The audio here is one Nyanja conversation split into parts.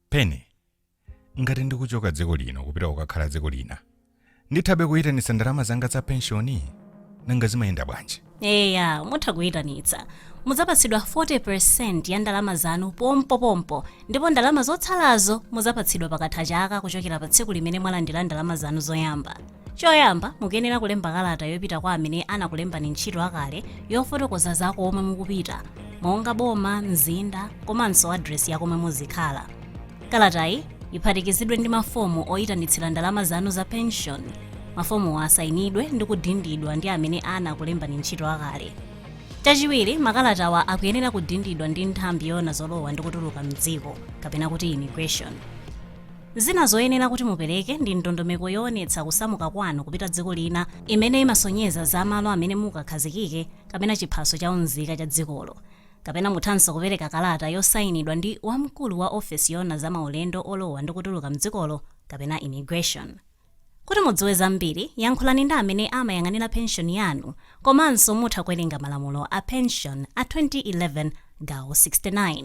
penny ngati ndikuchoka dziko lino kupita kukakhala dziko lina ndithabe kuyitanitsa ndalama zanga za penshoni nanga zimayenda bwanji eya mutha kuyitanitsa mudzapatsidwa 40% ya ndalama zanu pompopompo ndipo ndalama zotsalazo mudzapatsidwa pakatha chaka kuchokera pa tsiku limene mwalandira ndalama zanu zoyamba choyamba mukuyenera kulemba kalata yopita kwa amene anakulembani ntchito akale yofotokoza za komwe mukupita monga boma mzinda komanso adresi ya komwe muzikhala kalatayi iphatikizidwe ndi mafomu oyitanitsira ndalama zanu za pension mafomuwa asayinidwe ndi kudindidwa ndi amene anakulembani ntchito akale chachiwiri makalatawa akuyenera kudindidwa ndi nthambi yoona zolowa ndi kutuluka mdziko kapena kuti immigration Zina zoyenera kuti mupereke ndi ndondomeko yoonetsa kusamuka kwanu kupita dziko lina imene imasonyeza za malo amene mukakhazikike kapena chiphaso cha unzika cha dzikolo. Kapena muthanso kupereka kalata yosainidwa ndi wamkulu wa ofesi yoona za maulendo olowa ndi kutuluka mdzikolo kapena immigration. Kuti mudziwe zambiri, yankhulani ndi amene amayang'anira penshoni yanu komanso mutha kuwerenga malamulo a penshoni a 2011 gawo 69.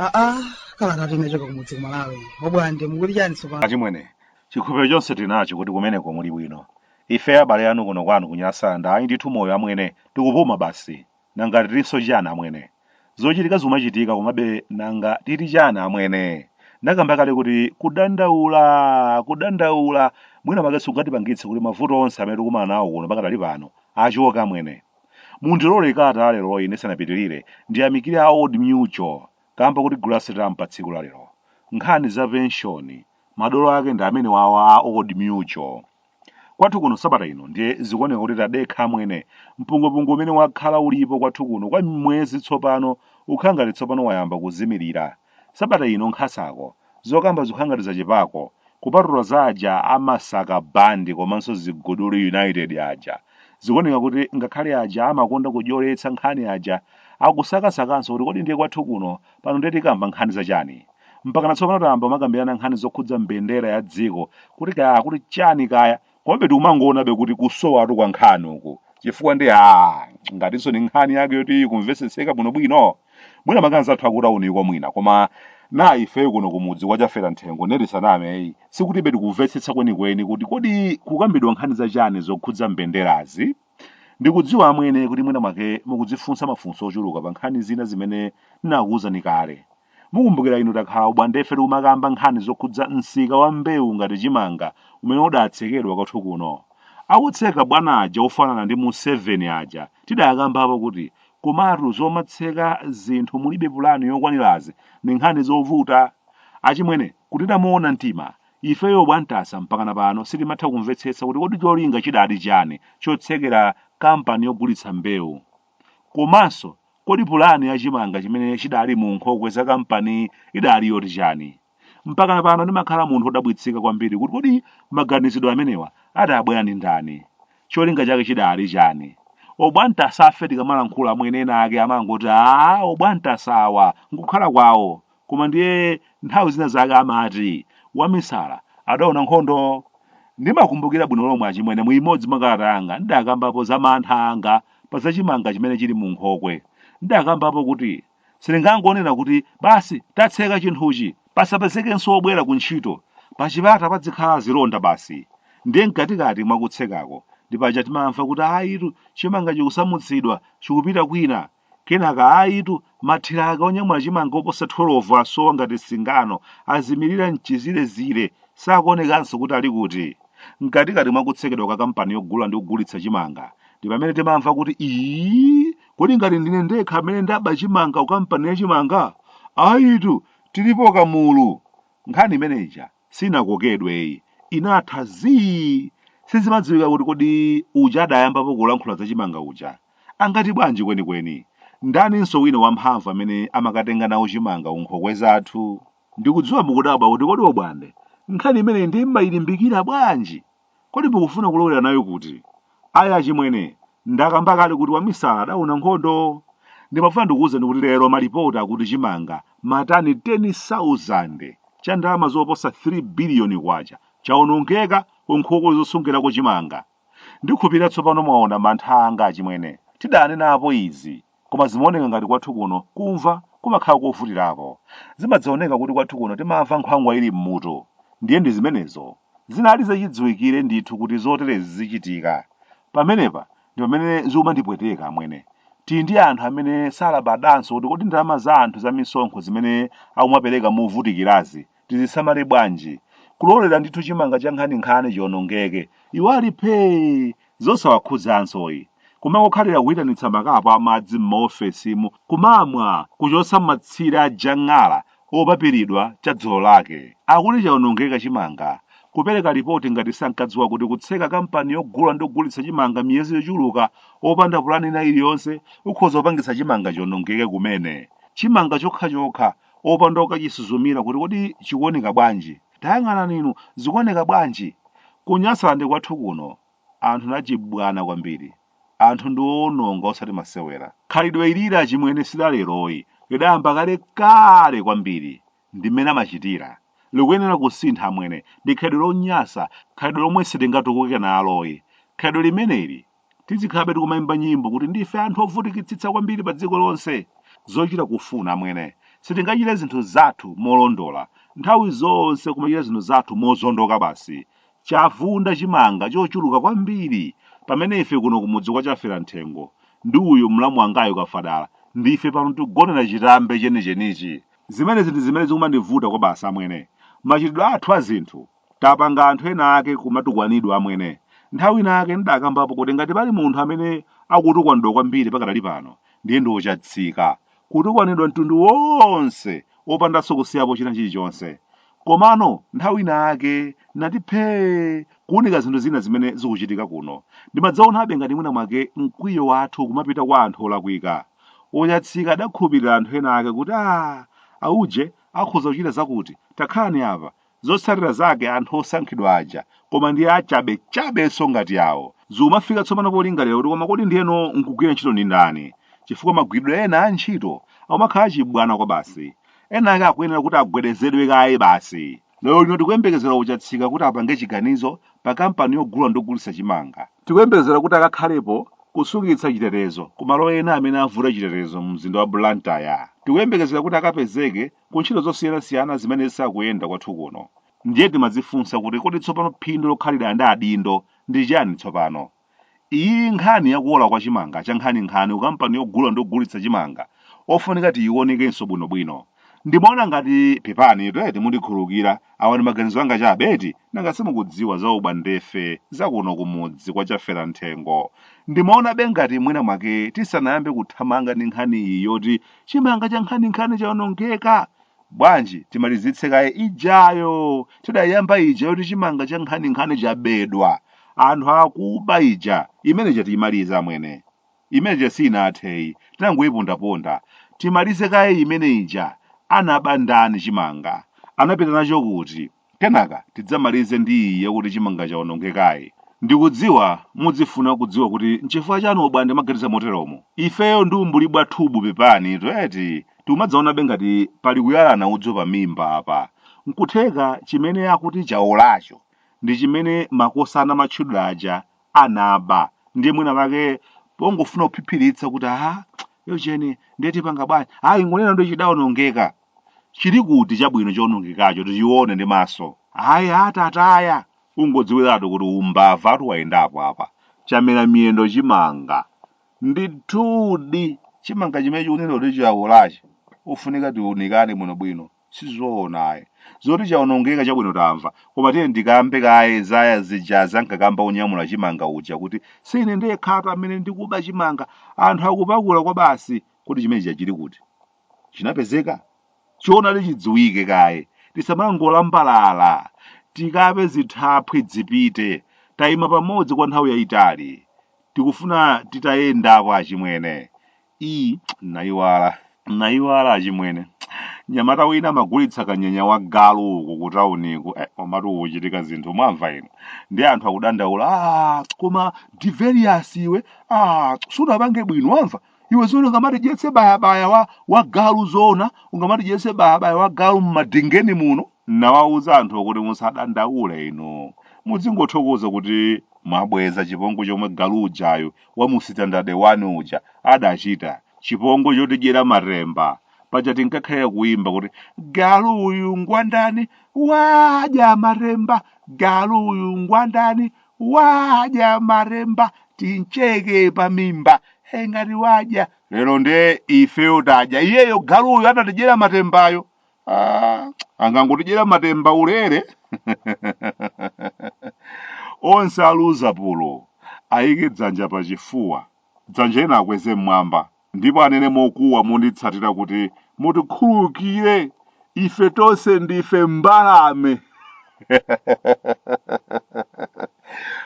aa kalata inachoka kumudzi kumalawi obwande mukuti chani tsopano achimwene chikhulupiriro chonse tili nacho kuti kumeneko muli bwino ife abale anu kuno kwanu ku nyasaland ayi ndithu moyo amwene tikupuma basi Nanga titinso chani amwene? Zochitika zikumachitika komabe nanga titi chani amwene? Ndakamba kale kuti kudandaula, kudandaula mwina mwake sikungatipangitse kuti mavuto onse amene tikumana nawo kuno pakadali pano achoke amwene. Mundilole kalata ya leroyi ndisanapitirire ndiyamikire a Old Mutual kamba kotigulira stamp pa tsiku la lero. Nkhani za penshoni madolo ake ndi amenewawa a Old Mutual. Kwathu kuno sabata ino ndiye zikuoneka kuti tadekha amwene. Mpungwepungwe umene wakhala ulipo kwathu kuno kwa mwezi tsopano ukhala ngati tsopano wayamba kuzimirira. Sabata ino nkhasako, zokamba zikukhala ngati zachepako, kupatula za aja a Masaka Band komanso Ziguduli United aja. Zikuoneka kuti ngakhale aja amakonda kudyoletsa nkhani aja akusakasakanso kuti kodi ndiye kwathu kuno Pano ndiye tikamba nkhani za chani? Mpakana tsopano tayamba kumakambirana nkhani zokhudza mbendera ya dziko kuti kaya akuti chani kaya komabe tikumangoonabe kuti kusowatu kwa nkhani uku chifukwa ndi a ngatinso ni nkhani yake yoti ikumvetsetseka bwinobwino mwina mwake anzathu akutauniko mwina koma na ifeyo kuno kumudzi kwachafera nthengo nde tisaname sikuti ife tikumvetsetsa kwenikweni kuti kodi kukambidwa nkhani za chani zokhudza mbenderazi Ndikudziwa amwene kuti mwina mwake mukudzifunsa mafunso ochuluka pa nkhani zina zimene ndinakuwuzani kale. Mukumbukira inu takhala obwandefe tikumakamba nkhani zokhudza msika wa mbewu ngati chimanga umene udatsekedwa kwathu kuno. Akutseka bwana aja ofanana ndi mu 7 aja tidakambapo kuti komatu zomatseka zinthu mulibe pulani yokwanirazi ndi nkhani zovuta. Achimwene kuti tamuona mtima Ifeyo obwantasa mpakana pano sitimatha kumvetsetsa kuti kodi cholinga chidali chani chotsekera kampani yogulitsa mbewu komanso kodi pulani ya chimanga chimene chidali mu nkhokwe za kampaniyi idali yoti chani. Mpakana pano ndimakhala munthu odabwitsika kwambiri kuti kodi maganizidwe amenewa adabwera ndi ndani, cholinga chake chidali chani. Obwantasafe tikamalankhula amwene ena ake amangoti aah obwantasa awa nkukhala kwawo Koma ndiye nthawi zina zake amati wamisala adaona nkhondo. Ndimakumbukira bwino lomwe achimwene mu imodzi mwa kalata yanga ndidakambapo za mantha anga pa za chimanga chimene chili mu nkhokwe. Ndidakambapo kuti simungangonena kuti basi tatseka chinthuchi pasapezekenso wobwera ku ntchito. Pachipata padzikhala zilonda basi. Ndiye mkatikati mwa kutsekako ndi paja timamva kuti ayitu chimanga chikusamutsidwa chikupita kwina. Kenaka ayitu, mathiraka onyamula chimanga oposa 12 asowa ngati singano, azimirira m'chizirezire, sakuonekanso kuti ali kuti. Mkatikati mwa kutsekedwa kwa kampani yogula ndi kugulitsa chimanga, ndi pamene timamva kuti, Iii, kodi ngati ndine ndekha amene ndaba chimanga ku kampani ya chimanga? Ayitu, tilipo kamulu! Nkhani imene ija sinakokedwe iyi inatha zii sizimadziwika kuti kodi uja adayambapo kulankhula za chimanga uja amati bwanji kwenikweni ndaninso wina wamphamvu amene amakatenga nawo chimanga unkhokwe zathu ndikudziwa mukudabwa kuti kodi obwande nkhani imeneyi nde mmayilimbikira bwanji Kodi mukufuna kulowera nayo kuti? Ayi achimwene, ndakamba kale kuti wamisala adaona nkhondo. Ndimafuna ndikuuzeni kuti lero malipoti akuti chimanga matani 10,000 cha ndalama zoposa K3 biliyoni chaonongeka ku nkhokwe zosungirako chimanga. Ndikhulupirira tsopano mwaona mantha anga achimwene. Tidaanenapo izi. Koma zimaoneka ngati kwathu kuno kumva kumakhala kovutirako. Zimadzaoneka kuti kwathu kuno timamva nkhwangwa ili m'mutu. Ndiye ndi zimenezo. Zinali zachidziwikire ndithu kuti zoterezi zichitika. Pamenepa ndi pamene zikumandipweteka, amwene. Tili ndi anthu amene salabadanso kuti kodi ndalama za anthu za misonkho zimene akumapereka movutikirazi tizisamale bwanji kulolera ndithu chimanga cha nkhaninkhani chionongeke iwo ali phee zosawakhudzanso iyayi kumangokhalira kuyitanitsa makapu amadzi m'maofesimu kumamwa kuchotsa matsire a jang'ala opapiridwa cha dzulo lake akuti chaonongeka chimanga kupereka lipoti ngati sankadziwa kuti kutseka kampani yogula ndi kugulitsa chimanga miyezi yochuluka opanda pulani ina iliyonse kukhoza kupangitsa chimanga chionongeke kumene chimanga chokhachokha Opanda kukachisuzumira kuti kodi chikuoneka bwanji. Tayang'anani inu, zikuoneka bwanji? Ku Nyasaland kwathu kuno, anthu ndi achibwana kwambiri. Anthu ndi oononga osati masewera. Khalidwe ilili achimwene si laleroyi, lidayamba kale kale kwambiri. Ndi mmene amachitira. Likuyenera kusintha amwene. Ndi khalidwe lonyasa, khalidwe lomwe sitingatukuke naloyi. Khalidwe limeneli Tizikhalabe tikumaimba nyimbo kuti ndife anthu ovutikitsitsa kwambiri pa dziko lonse. Zochita kufuna, amwene. Sitingachite zinthu zathu molondola. Nthawi zonse kumachita zinthu zathu mozondoka basi. Chavunda chimanga chochuluka kwambiri. Pamene ife kuno kumudzi kwa Chaferamthengo, ndi uyu mlamu wangayu Kafadala, ndife pano tikugonera chitambe chenichenichi. Zimenezi ndi zimene zikumandivuta kwabasi, amwene. Machitidwe athu a zinthu Tapanga anthu ena ake kumatukwanidwa amwene. Nthawi ina yake ndidakambapo kuti ngati pali munthu amene akutukwanidwa kwambiri pakadali pano ndiye ndi oChatsika. Kutukwanidwa mtundu wonse opandanso kusiyapo china chilichonse. Komano nthawi ina yake ndinati phee kuunika zinthu zina zimene zikuchitika kuno. Ndimadzaonabe ngati mwina mwake mkwiyo wathu kumapita kwa anthu olakwika. OChatsika adakhulupirira anthu ena ake kuti aah auje akhoza kuchita zakuti, takhalani apa, Zotsatira zake anthu osankhidwa aja, koma ndiye achabechabenso ngati awo, zikumafika tsopano polingalira kuti koma kodi ndiyeno nkugwira ntchito ndi ndani? Chifukwa magwiridwe ena a ntchito akumakhala achibwana kwabasi. Ena ake akuyenera kuti agwedezedwe kaye basi. Lero lino tikuyembekezera oChatsika kuti apange chiganizo pa kampani yogula ndi kugulitsa chimanga. Tikuyembekezera kuti akakhalepo kusungitsa chitetezo ku malo ena amene avuta chitetezo mu mzinda wa Blantyre. Tikuyembekezera kuti akapezeke ku ntchito zosiyanasiyana zimene zisakuyenda kwathu kuno ndiye timadzifunsa kuti kodi tsopano phindu lokhalira ndi adindo ndi chiyani tsopano iyi nkhani yakuola kwa chimanga cha nkhaninkhani ku kampani yogula ndi kugulitsa chimanga ofunika tiyiwonekenso bwinobwino ndimaona ngati pepani eti mundikhululukire awa ndi maganizo anga chabe eti nanga simukudziwa za ubwandefe za kuno kumudzi kwa chaferanthengo ndimaonabe ngati mwina mwake tisanayambe kuthamanga ndi nkhani iyi yoti chimanga cha nkhaninkhani chaonongeka bwanji timalizitse kaye ijayo tidayamba ija yoti chimanga cha nkhaninkhani chabedwa anthu akuba ija imene ija tiyimaliza amwene imene ija siinatheyi tinangoyipondaponda timalize kaye imene ija anaba ndani chimanga anapita nacho kuti Kenaka tidzamalize ndi iyi yakuti chimanga chaonongekayi. Ndikudziwa mudzifuna kudziwa kuti nchifukwa chani ubwande umaganiza moteromo. Ifeyo ndi umbuli bwathubu pepanitu eti tikumadzaonabe ngati pali kuyalana udzu pa mimba apa. Nkutheka chimene akuti chaolacho ndi chimene makosana amatchulira aja anaba ndiye mwina mwake pongofuna kuphiphiritsa kuti haa yocheni ndiye tipanga bwanji ayi ingonena kuti chidaonongeka. Chili kuti chabwino choonongekacho tichione ndi maso? Ayi a Tataya! Ungodziwiratu kuti umbavatu wayendapo apa. Chamera miyendo chimanga. Ndithudi! Chimanga chimene chikunenedwa kuti chaolachi ufunika tiunikane bwinobwino. Sizoona ayi. Zoti chaonongeka chabwino tamva, koma tiyeni tikambe kaye za zijazi ankakamba wonyamula chimanga uja kuti, Si ine ndekhatu amene ndikuba chimanga. Anthu akupakula kwabasi! Kodi chimene chija chili kuti? chinapezeka choonadi chidziwike kaye tisamangolambalala tikape zithaphwi zipite tayima pamodzi kwa nthawi yayitali tikufuna titayendako achimwene iyi nayiwala nayiwala achimwene nyamata wina amagulitsa kanyenya wa galu uku kutawuniku eh, komatu kuchitika zinthu mwamva inu ndi anthu akudandaula ah, koma diveriyasi iwe ah, sunapange bwino wamva iwe zoona ungamatidyetse bayabaya wa, wa galu zoona ungamatidyetse bayabaya wa galu mmadingeni muno nawawuza anthu kuti musadandaule inu mudzingothokoza kuti mwabweza chipongwe chomwe galu ujayo wa mu sitandade wani uja adachita chipongwe chotidyera matemba paja tinkakhalira kuimba kuti galu uyu ngwandani wadya matemba galu uyu ngwandani wadya matemba tincheke pa mimba Eh, ngati wadya lero nde ifeyo tadya iyeyo galuyo atatidyera matembayo ah, angangotidyera matemba ulere onse aluza pulo ayike dzanja pa chifuwa dzanja lina akweze mmwamba ndipo anene mokuwa monditsatira kuti mutikhululukire ife tonse ndife mbalame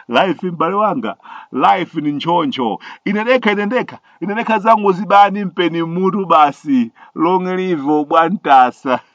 life m'bale wanga life ni nchoncho ine ndekha ine ndekha ine ndekha zangu zibani mpeni mutu basi long live bwantasa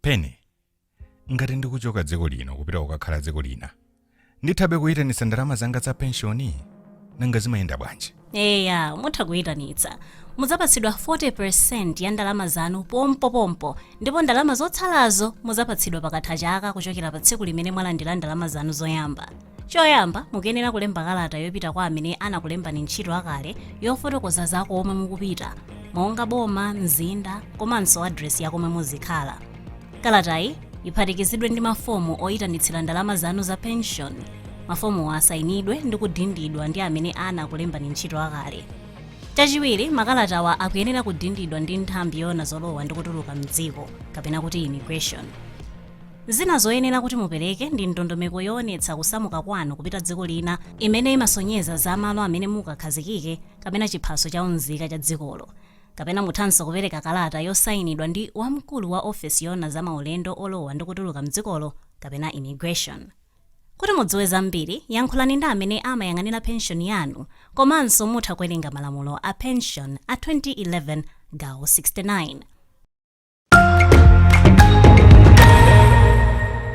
penny ngati ndikuchoka dziko lino kupita kukakhala dziko lina ndithabe kuyitanitsa ndalama zanga za penshoni nanga zimayenda bwanji eya mutha kuyitanitsa mudzapatsidwa 40% ya ndalama zanu pompopompo ndipo ndalama zotsalazo mudzapatsidwa pakatha chaka kuchokera pa tsiku limene mwalandira ndalama zanu zoyamba choyamba mukuyenera kulemba kalata yopita kwa amene anakulembani ntchito akale yofotokoza za komwe mukupita monga boma mzinda komanso adresi ya komwe muzikhala kalatayi iphatikizidwe ndi mafomu oyitanitsira ndalama zanu za pension mafomuwa asayinidwe ndi kudindidwa ndi amene anakulembani ntchito akale chachiwiri makalatawa akuyenera kudindidwa ndi nthambi yoona zolowa ndi kutuluka mdziko kapena kuti immigration Zina zoyenera kuti mupereke ndi ndondomeko yoonetsa kusamuka kwanu kupita dziko lina imene imasonyeza za malo amene mukakhazikike kapena chiphaso cha unzika cha dzikolo. Kapena muthanso kupereka kalata yosainidwa ndi wamkulu wa ofesi yoona za maulendo olowa ndi kutuluka m'dzikolo kapena Immigration. Kuti mudziwe zambiri, yankhulani ndi amene amayang'anira penshoni yanu komanso mutha kuwerenga malamulo a penshoni a 2011 gawo 69.